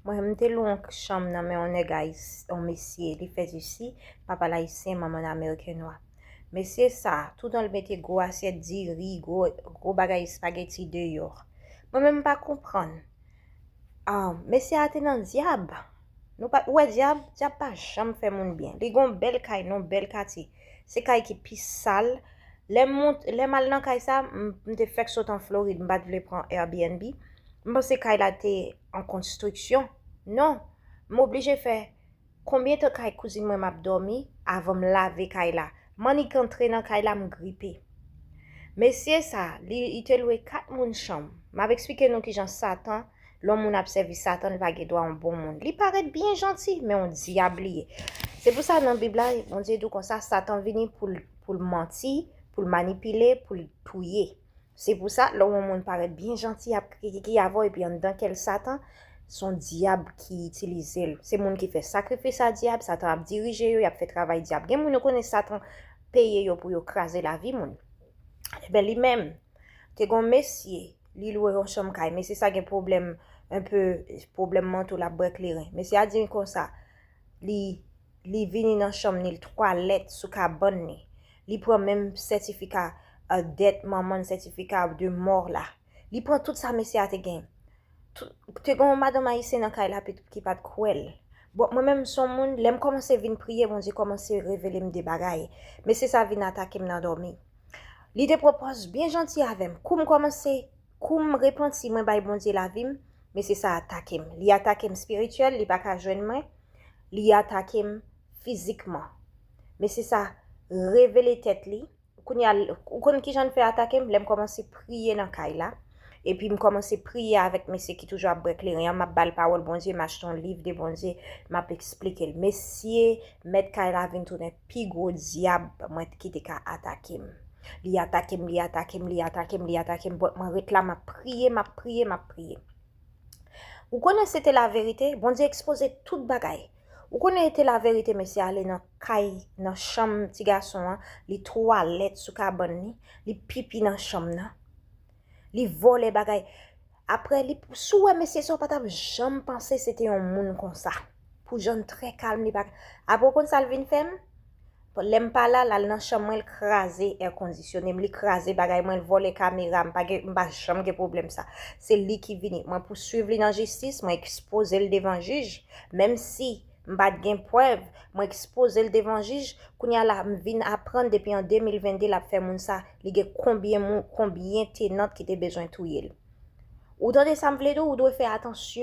Mwen m te lwe yon chanm nan men yon nèg ayisyen, yon mesye, li fèt isi, papa l ayisyen, manman l amerikennwa. Mesye sa, toutan l mete gwo asyèt diri, gwo bagay espageti deyò. Mwen menm m pa konprann. Mesye a te nan dyab. Nou pa t wè dyab? Dyab pa janm fè moun byen. Li gen yon bèl kay nan yon bèl katye. Se kay ki pi sal. Lè m al nan kay sa, m te fèk sot an Florid, m pa t vle pran Airbnb. M panse kay la te an konstriksyon. Non! M oblije fè konbyen tan kay kouzin mwen m ap dòmi avan m lave kay la. M annik antre nan kay la, m gripe. Mesye sa, li te lwe kat moun chanm. M ap eksplike nou kijan Satan Lè yon moun ap sèvi Satan, li pa gen dwa yon bon moun. Li parèt byen janti, men yon dyab li ye. Se pou sa nan Bib la, Bondye di w kon sa, Satan vini pou l manti, pou l manipile, pou l touye. Se pou sa, lè yon moun parèt byen janti, ap krikiki avè w epi anndan kè l Satan, se yon dyab ki itilize l. Se moun ki fè sakrifis a dyab, Satan ap dirije yo, y ap fè travay dyab. Gen moun yo konnen Satan peye yo pou yo kraze lavi moun. Enben, li menm, te gen yon mesye Li lwe yon chanm kay. Mesye sa gen pwoblèm un peu pwoblèm manto lap bwè kleren. Mesye a di m konsa li li vini nan chanm ni l twalèt sou kabann ni. Li pran menm sètifika dèt manman l sètifika de mò la. Li pran tout sa mesye a te gen. Te gen yon madanm ayisyen nan kay la ki pat kwè l. Bon mwen menm m son moun lè m kòmanse vin priye Bondye kòmanse revele m de bagay. Mesye sa vin atake m nan dòmi. Li te pwopòz byen janti avè m. Kou m kòmanse, kou m repanti mwen bay Bondye lavi m, mesye sa a atake m. Li atake m spirityèl, li pa ka jwenn mwen, li atake m fizikman. Mesye sa revele tèt li, kounye a ou konn kijan l fè atake m, lè m kòmanse priye nan kay la, Epi m kòmanse priye avèk mesye ki toujou ap bwè kleren an, m ap ba l pawòl Bondye, m achte yon liv de Bondye, m ap esplike l. Mesye mèt kay la vin tounen pi gwo dyab mwen ki te ka atake m. Li atake m, li atake m, li atake m, li atake m, bòt mwen ret la m ap priye, m ap priye, m ap priye. Ou konnen se te laverite, Bondye ekspoze tout bagay. Ou konnen e te laverite mesye ale nan kay nan chanm ti gason an, li twalèt sou kabann li, li pipi nan chanm nan, li vòlè bagay. Aprè li, si w wè mesye sa w pa t ap janm panse se te yon moun konsa. Pou jan l trè kalm li pa, aprè ou konn sa l vin fè m? Lèm pa la lal nan chanm mwen l kraze air conditionné m li kraze bagay mwen l vòlè kamera m pa gen m pa janm gen problèm sa se li ki vini mwen pouswiv li nan jistis mwen ekspoze l devan jij menm si m pat gen prèv mwen ekspoze l devan jij kounya la m vin aprann depi an 2022 lap fè moun sa li gen konbyen moun konbyen tenant ki te bezwen touye l ou tande sa m vle di w ou dwe fè atansyon.